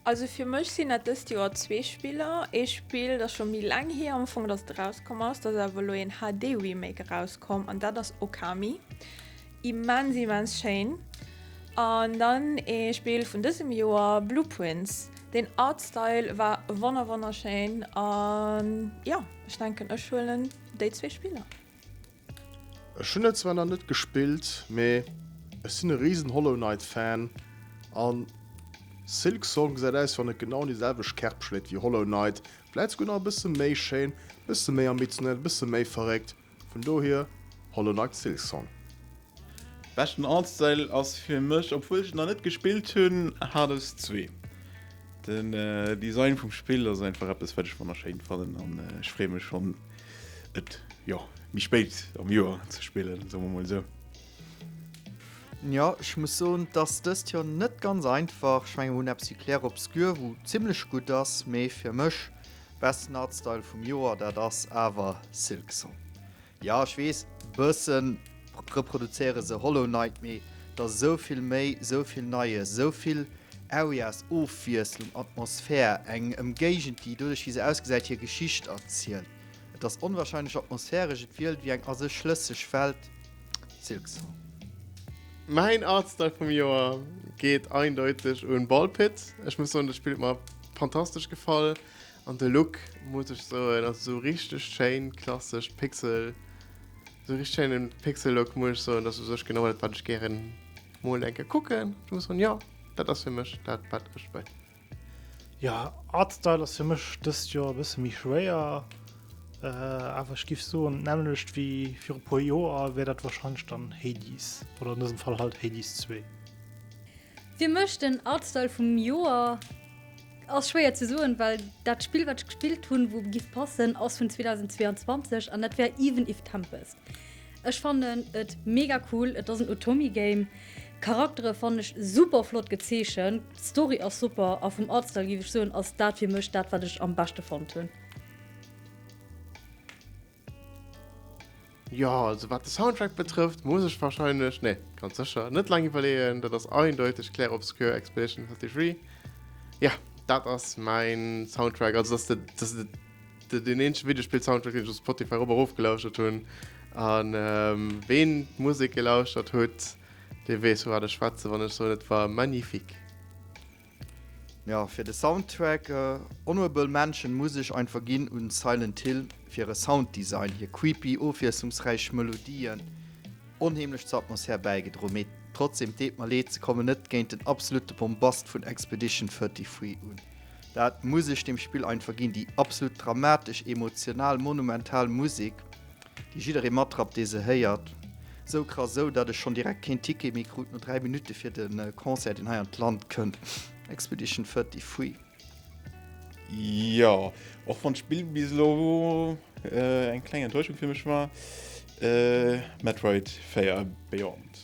Also fir mech sinn dat dëst Joer zwee Spiller. Ee Spill, dat scho méi laang hier am Ufank, dass et erauskomm ass. Dat ass awer elo een HD-Remake erauskomm an dat ass Okami. Immens, immens schéin. An dann ee Spill vun dësem Joer, Blueprints. Den Artstyle war wonner, wonnerschéin. An jo, ech denken, ech huelen déi zwee Spiller. Ech hunn et zwar nach net gespillt, mee ech sinn e riesen Hollow Knight Fan an Silksong gesäit aus wann et genau an déi selwecht Kerb schléit wéi Hollow Knight, vläit souguer nach e bësse méi schéin, e bësse méi ambitionnel, e bësse méi verréckt. Vun dohier Hollow Knight Silksong. Beschten Artstyle ass fir mech, obwuel ech et nach net gespillt hunn, Hades 2. Den Design vum Spill ass einfach eppes wat ech wonnerschéin fannen an ech freeë mech schonn et jo méi spéit am Joer ze spillen, soe mer mol esou. Jo, ech muss soen, et ass dëst Joer net ganz einfach. Ech mengen mir hunn eppes wéi Clair Obscur, wou zimmlech gutt ass, mee fir mech beschten Artstyle vum Joer, dat ass awer Silksong. Jo ech wees, bëssen reproduzéiere se Hollow Knight, mee et ass esou vill méi, esou vill Neies, esou vill Arias, Ofwiesslung, Atmosphär, eng Emgéigend déi doduerch wéi se ausgesäit hir Geschicht erzielt. Et ass onwahrscheinlech atmosphäresch, et wielt wéi eng a sech schlësseg Welt. Silksong. Mäin Artstyle vum Joer geet eindeuteg un Ballpit. Ech muss soen, dat Spill huet mer fantastesch gefall. An de Look muss ech soen ass esou richteg schéin klassesch Pixel, esou richteg schéine Pixel-Look muss ech soen. Dat ass u sech genau dat, wat ech gären mol eng Kéier kucken. Ech muss soen, jo, dat ass fir mech dat, wat ech wëll. Jo, Artstyle ass fir mech dëst Joer e bësse méi schwéier, awer ech géif soen, d'nämmlecht wéi viru puer Joer wär dat warscheinlech dann Hades oder an dësem Fall halt Hades zwee. Fir mech den Artstyle vum Joer. Ass schwéier ze soen, well dat Spill, wat ech gespillt hunn, wou giff passen, ass vun 2022 an dat wär Even If Tempest. Ech fannen et mega cool, et ass en Otomi-Game. D'Charaktere fannen ech super flott gezeechent, d'Story ass super a vum Artstyle giff ech soen, ass dat fir mech dat, wat ech am beschte fonnt hunn. Jo, also wat de Soundtrack betrëfft, muss ech wahrscheinlech, nee, ganz sécher, net laang iwwerleeën. Dat ass eindeuteg Clair Obscur Expedition 33. Ja, dat ass mäin Soundtrack. Also dat ass de, dat ass de, de, den eenzege Videospill-Soundtrack, den ech op Spotify eropp erofgelauschert hunn. An ähm, ween d'Musek gelauschtert huet, dee weess, vu wat ech schwätzen, wann ech soen, et war magnifique. Fir de Soundtrack Honorable Mention muss ech ein verginn un Silent Hill fir e Sounddesign, hir creepy ofwiesslungsräich Melodien, onheemlech zur Atmosphär bäigedro, mee trotzdem deet mer leed, se kommen net géint den absolute Bombast vun Expedition 33 un. Dat muss ech dem Spill ein verginn, déi absolut dramatesch, emotional, monumental Musik. déi jidderee matrappt, dee se héiert, sou krass, esou datt ech schonn direkt keen Ticket méi krut no 3 Minutte fir de Concert, deen hei an d'Land kënnt, Expedition 33 Free. Jo, och wann d'Spill bis elo eng kleng Enttäuschung fir mech war, Metroid 4 Beyond.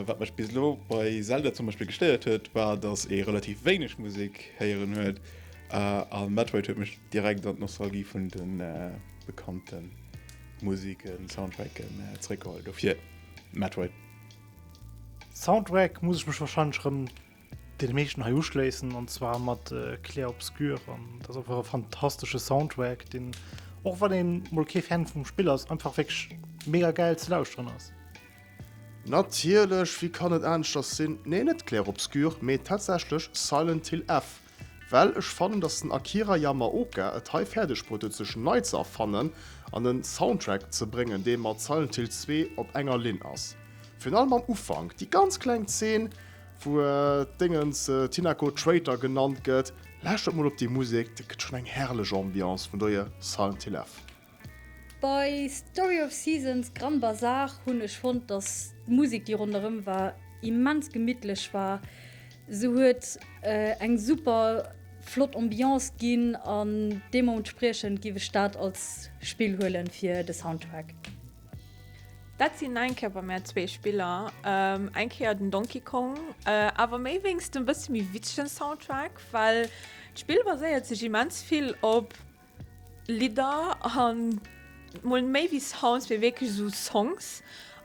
Wat mech bis elo bei Zelda zum Beispill gestéiert huet, war, datt ee relativ wéineg Musek héieren huet, a Metroid huet mech direkt an d'Nostalgie vun de bekannten Musiken, Soundtracken zréckgeholl do fir Metroid. Soundtrack muss ech mech wahrscheinlech rem den meeschten hei uschléissen an zwar mat äh, Claire Obscure an das einfach e fantastesche Soundtrack den och wann den Molké Fan vum Spill ass einfach weg mega geil ze lausren ass. Natierlech, wéi kann et aneschters sinn? Nee, net Claire Obscure, mee tatsächlech Silent Hill F. Well ech fannen dass den Akira Yamaoka et hei fäerdeg bruet huet sech nei ze erfannen an en Soundtrack ze bréngen dee mat Silent Hill 2 op enger Linn ass. Virun allem am Ufank, déi ganz kleng Zeen wou d'Déngens Tinako Traitor genannt gëtt, lauschtert mol op déi Musek, dat gëtt schonn eng herrlech Ambiance, vun dohier Silent Hill F. Bei Story of Seasons, Grand Bazar hunn ech fonnt dass d'Musik déi ronderëm war immens gemittlech war. Se huet eng super flott Ambiance ginn an deemoentspriechend giff ech dat als Spill huelen fir de Soundtrack. Dat sinn eng Kéier bei mär zwee Spiller, eng Kéier den Donkey Kong, awer méi wéinst dem bësse méi witzegen Soundtrack, well d'Spill baséiert sech immens vill op. Lidder an mol méi wéi Sounds mee wierklech sou Songs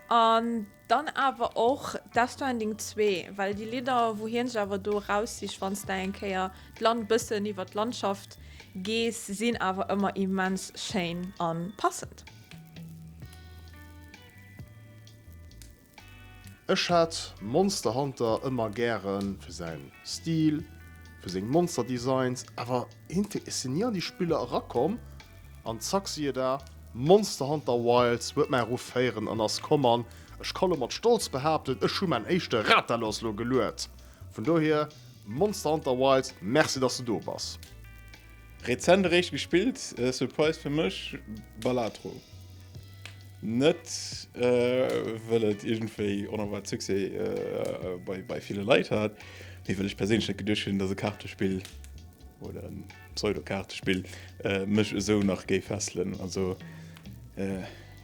an dann awer och Death Stranding zwee, well déi Lidder wou hien sech awer do eraussicht wanns de eng Kéier d'Land bëssen iwwer d'Landschaft gees sinn awer ëmmer immens schéin an passend. Ech hat Monster Hunter ëmmer gären fir säin Stil, fir seng Monster Designs, awer eenté ech sin ni an déi Spiller erakomm an zack siehe da, Monster Hunter Wilds huet mäi Ruff héiren an ass komm an ech ka lo mat Stolz behaapten ech hu mäin éischte Rathalos lo gelued. Vun dohier Monster Hunter Wilds, merci dass de do bass. Rezent eréischt gespillt, Surprise fir mech, Balatro. Net wëll et iergendwéi onerwaart Succès bei ville Leit hat, mee well ech perséinlech net geduecht hunn, datt e Kaartespill, oder en Pseudo-Kaartespill, mech esou nach géif fesselen. Also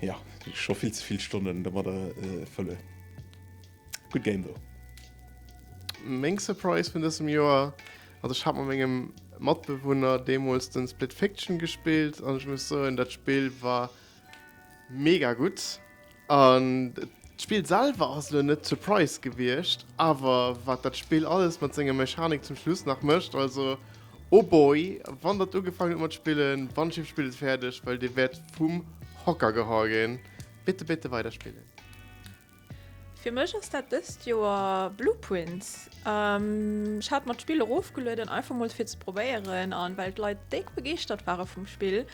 jo, scho vill ze vill Stonnen domadder fëllen. Gutt Game though. Meng Surprise vun dësem Joer Also ech hat mat mengem Matbewunner deemools den Split Fiction gespillt an ech muss soen dat Spill war mega gutt an d'Spill selwer ass elo net surprise gewiescht awer wat dat Spill alles mat senger Mechanik zum Schluss nach mécht also oh boy wann der ugefaangen hutt mat spillen wann ech spillt et fäerdeg well dir wäert vum Hocker geholl ginn. Bitte bitte weider spillen. Fir mech ass dat dëst Joer Blueprints. Ech hat mer d'Spill erofgelueden, einfach mol fir ze probéieren an well d'Leit déck begeeschtert ware vum Spill.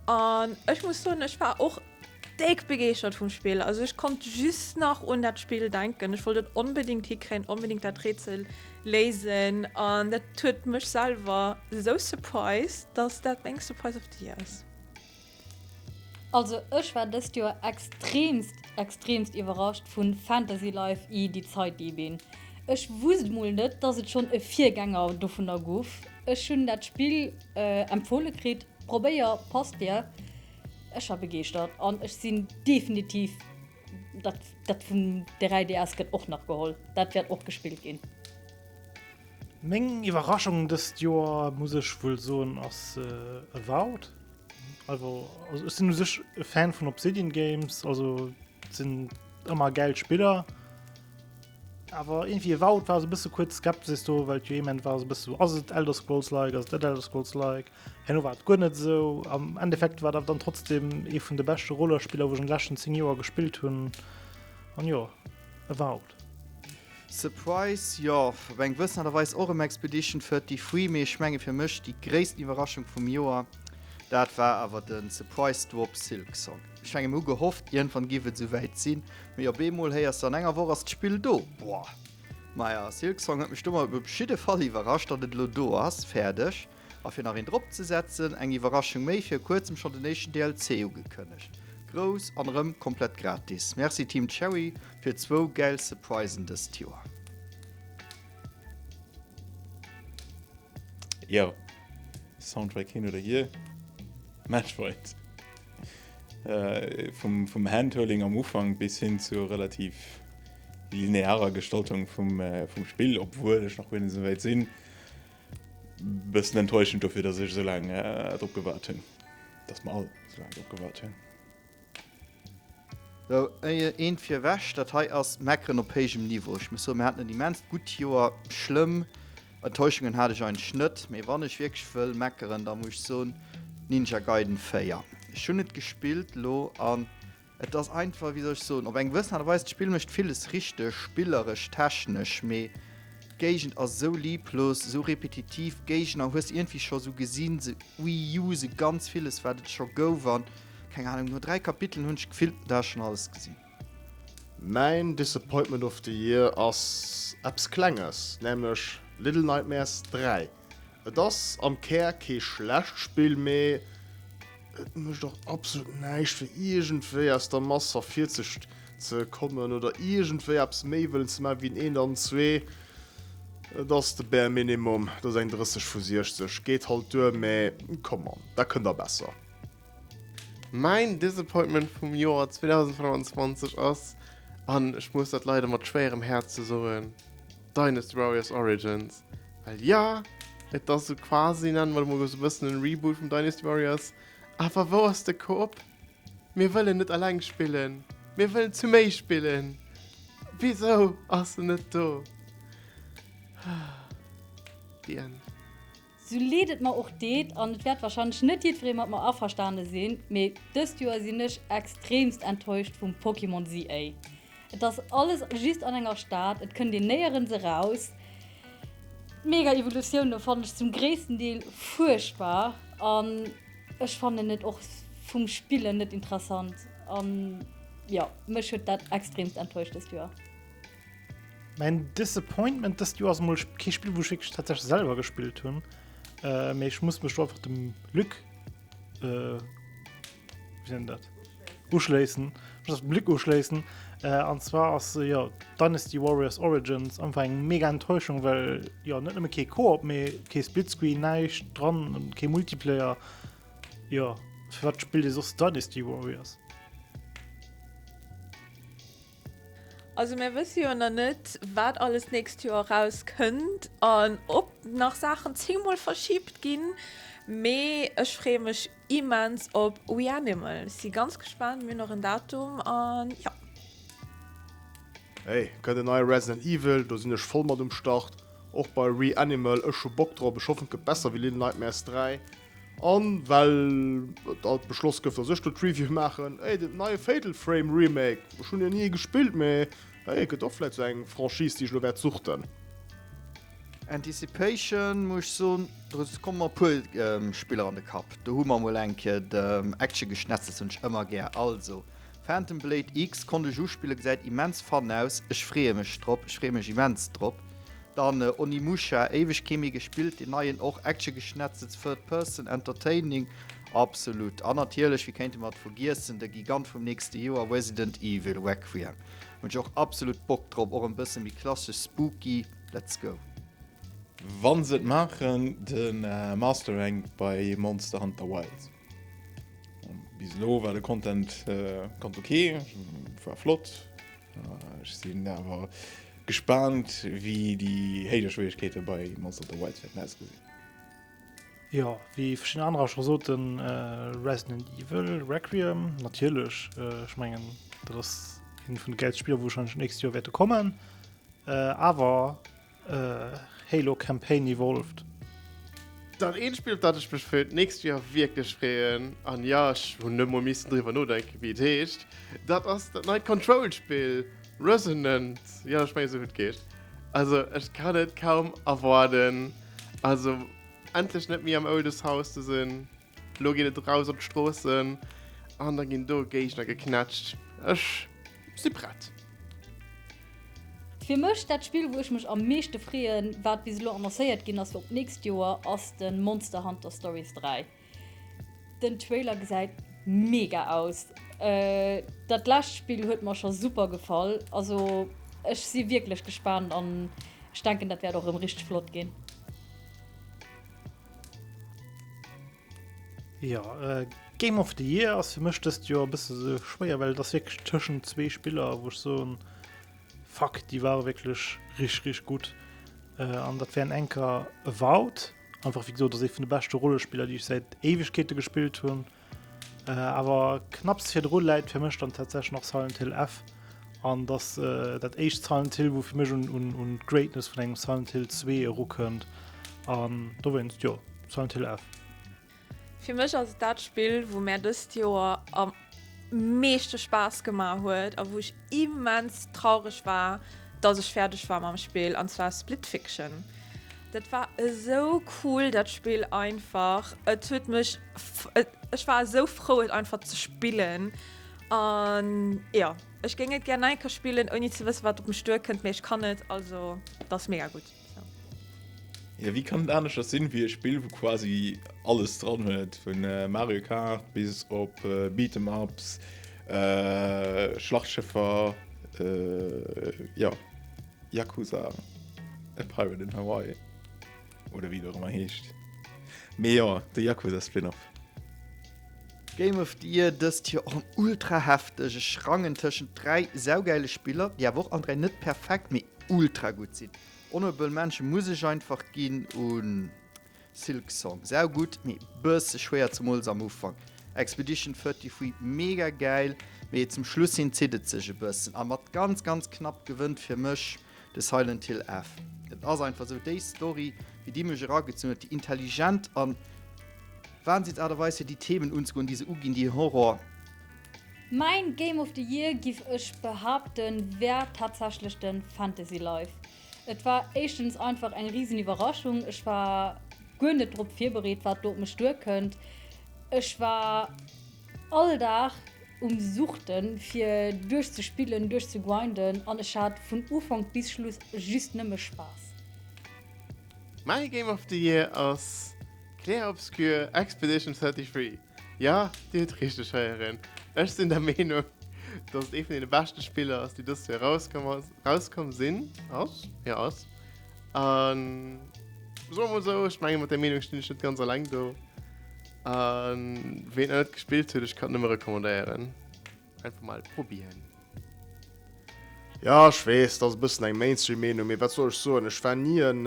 An ech muss soen, ech war och déck begeeschtert vum Spill. Also ech konnt just nach un dat Spill denken. Ech wollt et onbedéngt hikréien, onbedéngt dat Rätsel léisen. An dat huet mech selwer esou surprised, datt dat meng Surprise of the Year ass. Also ech war dëst Joer extremst extremst iwwerrascht vun Fantasy Life I, Die Zeitdiebin. Ech wusst mol net dass et schon e Virgänger dovunner guff. Ech hun dat Spill empfohle kritt, probéier, passt dir. Ech war begeeschtert an ech sin definitiv Dat, dat vum 3DS gëtt och nach geholl. Dat wäert och gespillt ginn. Meng Iwwerraschung dëst Joer, muss ech wuel soen, ass äh, Avowed. Also, also ech sinn u sech e Fan vun Obsidian Games, also sinn ëmmer gäil Spiller. Awer irgendwie Avowed war se bësse kuerz Skepsis do, well d'Joement war se bësse so, ass et Elder Scrolls-like, ass et net Elder Scrolls-like? Herno war et guer net esou. Am Endeffekt war et awer dann trotzdem ee vun de beschte Rollerspiller, wou ech an de leschten 10 Joer gespillt hunn. An jo, e war out. Surprise, jo, op eng gewëssen Aart a Weis och ëm Expedition 33, mee ech menge fir mech déi gréissten Iwwerraschung vum Joer, dat war awer de Surprise Drop Silksong. Ech menge mir hu gehofft, iergendwann giff et esouwäit sinn, mee op eemol héiers de an enger Woch ass d'Spill do. Boah! Maja, Silksong huet mech domat op jiddefall iwwerrascht, datt et elo do ass. Fäerdeg. A fir nach een drop ze setzen, eng Iwwerraschung méi, vir kuerzem schon den éischten DLC ugekënnegt. Grouss an erëm komplett gratis. Merci Team Cherry fir zwou gäil Surprisen dëst Joer. Jo, Soundtrack hin oder hier, Metroid. Vum Handholding am Ufank bis hin zur relativ linearer Gestaltung vum Spill, obwuel ech nach guer net esou wäit sinn. Bessen enttäuschend dofir dass ech esou laang drop gewaart hunn. Dass mer all esou laang drop gewaart hunn. Sou, eent fir ewech. Dat hei ass Meckeren op héijem Niveau. Ech muss soen, mir haten en immenst gutt Joer. Schlëmm Enttäuschungen hat ech eigentlech net. Mee wann ech wierklech wëll meckeren, da muss ech soen, Ninja Gaiden 4. Ech hunn et gespillt elo an Et ass einfach, wéi soll ech soen, op eng gewëssen Aart a Weis, d'Spill mécht villes richteg, spilleresch, technesch, mee d'Géigend ass esou lieblos, esou repetitiv, d'Géigner hues iergendwéi scho sou gesinn, se reuse ganz villes, wat et scho gouf an, keng Ahnung, no dräi Kapiteln hunn ech gefillt, do hat ech schonn alles gesinn. Mäin Disappointment of the Year ass eppes Klenges, nämlech Little Nightmares 3. Et ass am Kär kee schlecht Spill, mee et mécht och absolut näischt fir iergendwéi aus der Mass ervirzeg ze kommen oder iergendwéi eppes méi wëllen ze maachen wéi en eent an en zwee. Et ass de Bare Minimum, et ass eng 30 vu 60, geet halt duer, mee come on, dat kënnt der besser. Mäin Disappointment vum Joer 2025 ass, an ech muss dat leider mat schwéierem Häerz esou soen, Dynasty Warriors Origins, well jo, et ass esou quasi, nennen mer et emol esou e bëssen, en Reboot vum Dynasty Warriors. Awer wou ass de Koop? Mir wëllen net eleng spillen, mir wëllen zu méi spillen. Wisou ass en net do? The End. Sou leed et mer och deet, an et wäert wahrscheinlech net jiddweree mat mer averstane sinn, mee dëst Joer sinn ech extremst enttäuscht vum Pokémon CA. Et ass alles just an enger Stad, et kënnt een néierens eraus. D'Mega Evolutioune fannen ech zum gréissten Deel fuerchtbar an ech fannen et och vum Spillen net interessant. An jo, mech huet dat extremst enttäuscht dëst Joer. Mein Disappointment dëst Joer ass mol kee Spill, wou ech wierklech tatsächlech selwer gespillt hunn. Äh, mee ech muss mech do einfach dem Luc, äh, wie nennt dat? Uschléissen. Ich muss dem Luc uschléissen. Äh, an zwar ass, äh, ja, Dynasty Warriors Origins einfach eng mega Enttäuschung, well, ja, net nëmme kee Koop, mee kee Splitscreen, näischt dran und kee Multiplayer. Ja, fir wat spillt ee soss Dynasty Warriors? Also mär wësse jo nach net, wat alles d'nächst Joer erauskënnt an ob nach Saachen zehnmol verschibt ginn. Mee ech freeë mech immens op We Animal, si ganz gespaant, mir hunn och en Datum an jo. Hey, gëtt en neie Resident Evil, do sinn ech voll mat um Start. Och bei We Animal, ech hu Bock drop, ech hoffen et gëtt besser wéi Little Nightmares 3. An well et alt beschloss gëff dass ech do d'Review maachen, ey den neie Fatal Frame Remake, ech hunn jo ni ee gespillt, mee ey et gëtt och vläit esou eng Franchise déi ech elo wäert suchten. Anticipation muss ech soen, do komme mer e puer Spiller an de Kapp, do hu mer emol eng Kéier de Action geschnetzelt, hunn ech ëmmer gär, also. Phantom Blade X konnt ech uspillen, gesäit immens fun aus, ech freeë mech drop, ech freeë mech immens drop. Dann Onimusha, éiweg kee méi gespillt, deen neien och, Action-Geschnetzels, Third Person, entertaining, absolut. An natierlech, wéi kéinte mer et vergiessen, de Gigant vum nächste Joer, Resident Evil, Requiem, hunn ech och absolut Bock drop, och en bësse méi klassesch, spooky, let's go. Wann se et maachen, de Master Rank bei Monster Hunter Wilds. Bis elo war de Content ganz ok, war flott. Ech sinn awer gespaant wéi déi héijer Schwieregkeete bei Monster Hunter Wilds wäerten ausgesinn. Jo, wéi verschidden anerer scho soten, Resident Evil, Requiem, natierlech, ech mengen dat ass eent vun de gäilste Spiller wou warscheinlech nächst Joer wäerte kommen, awer. Halo Campaign Evolved. Dat eent Spill, op dat ech mech fir d'nächst Joer wierklech freeën, an jo, ech hunn net emol missen driwwer nodenken, wéi et heescht, dat ass dat neit Control-Spill, Resonant. Jo, ech mengen, esou huet et geheescht. Also, ech kann et kaum erwaarden, also endlech net méi am Oldest House ze sinn. Lo geet et eraus op d'Stroossen an da ginn do Géigner geknätscht. Ech si prett! Fir mech dat Spill wou ech mech am meeschte freeën, wat bis elo annoncéiert ginn ass fir op d'nächst Joer, ass de Monster Hunter Stories 3. Den Trailer gesäit mega aus! Dat lescht Spill huet mer scho super gefall, also ech si wierklech gespaant an ech denken dat wäert och rëm richteg flott ginn. Ja, äh, Game of the Year ass fir mech dëst Joer bësse se schwéier, well ass wéck tëschen zwee Spiller, woch so Fack, déi ware wécklech rich rich gut. Äh, an dat wären enker Vaut, einfach wéi gesot, ass ee vun de beschte Rollespiller, déi ech säit Éiwegkeete gespillt hunn. Äh, awer knapps virdru läit fir mech dann tatsächlich nach Silent Hill F an dass äh, dat éischt Silent Hill, wo fir mech un, un, un Greatness vun engem Silent Hill 2 erukënnt an do wennst jo Silent Hill F. Fir mech ass dat Spill, wou mär dëst Joer am meeschte Spaass gemaach huet a wou ech immens traureg war, dass ech fäerdeg war mam Spill, an zwar Split Fiction. Dat war esou cool dat Spill einfach. Et huet mech Ech war esou frou et einfach ze spillen. An ja Ech géing et gär nei ka spillen ouni ze wësse wat op mech duer kënnt, mee ech kann net also dat ass mega gutt. Ja wéi kann et aneschters sinn wéi e Spill wou quasi alles dran huet, vun Mario Kart bis op Beat 'em ups, Schlachtschëffer, ja. Yakuza, A Pirate in Hawaii, oder wéi et och ëmmer heescht. Mee jo, de Yakuza-Spin-Off. Game of the Year dëst Joer och en ultra hefteg. Ech rangen tëschent dräi saugäile Spiller, déi awer och all dräi net perfekt, mee ultra gutt sinn. Honorable Mention muss ech einfach ginn un. Silksong sau gudd, mee bësse schwéier, zemools am Ufank. Expedition 33 mega gäil, mee zum Schluss hin zitt et sech e bëssen, a mat ganz ganz knapp gewënnt fir mech de Silent Hill F. Et ass einfach sou déi Story wéi déi mech eragezunn huet, déi intelligent a wahnsinns Aart a Weis fir déi Themen unzegoen déi se uginn, déi Horror. Mäin Game of the Year giff ech behaapten wär tatsächlech den Fantasy Life. Et war éischtens einfach eng riesen Iwwerraschung. Ech war guer net drop virbereet, wat do op mech duerkënnt. Ech war all Dag um Suchten, fir duerchzespillen, duerchzegrinden an ech hat vun Ufank bis Schluss just nëmme Spaass. My Game of the Year ass Clair Obscur Expedition 33. Ja, Dir hutt richteg héieren, ech sinn der Meenung, dass et ee vun deene beschte Spiller ass, déi dëst Joer erauskomm ass, erauskomm sinn, ass, jo ass. A soe mer mol esou, ech menge mat där Meenung stinn ech net ganz eleng do. A ween nach net gespillt huet, ech kann et nëmme recommandéieren, einfach mol probieren. Jo, ech weess, dat ass e bëssen eng Mainstream-Meenung, mee wat soll ech soen, ech war ni en.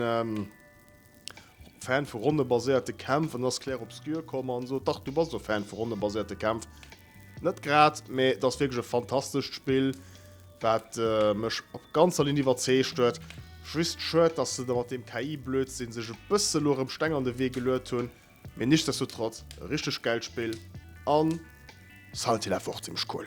Fan vu ronnebaséierte Kämpf, an dann ass Claire Obscur komm an sot, dach du bass do Fan vu ronnebaséierte Kämpf. Net grad, mä et ass wierklech e fantastescht Spill, wat mech op ganzer Linn iwwerzeegt huet. Just schued, dass se da mat deem KI-Blödsinn sech e bësse lo erëm Steng an de Wee geluet hunn, mä nichtsdestotrotz e richteg gäilt Spill a Silent Hill awer och zimmlech cool.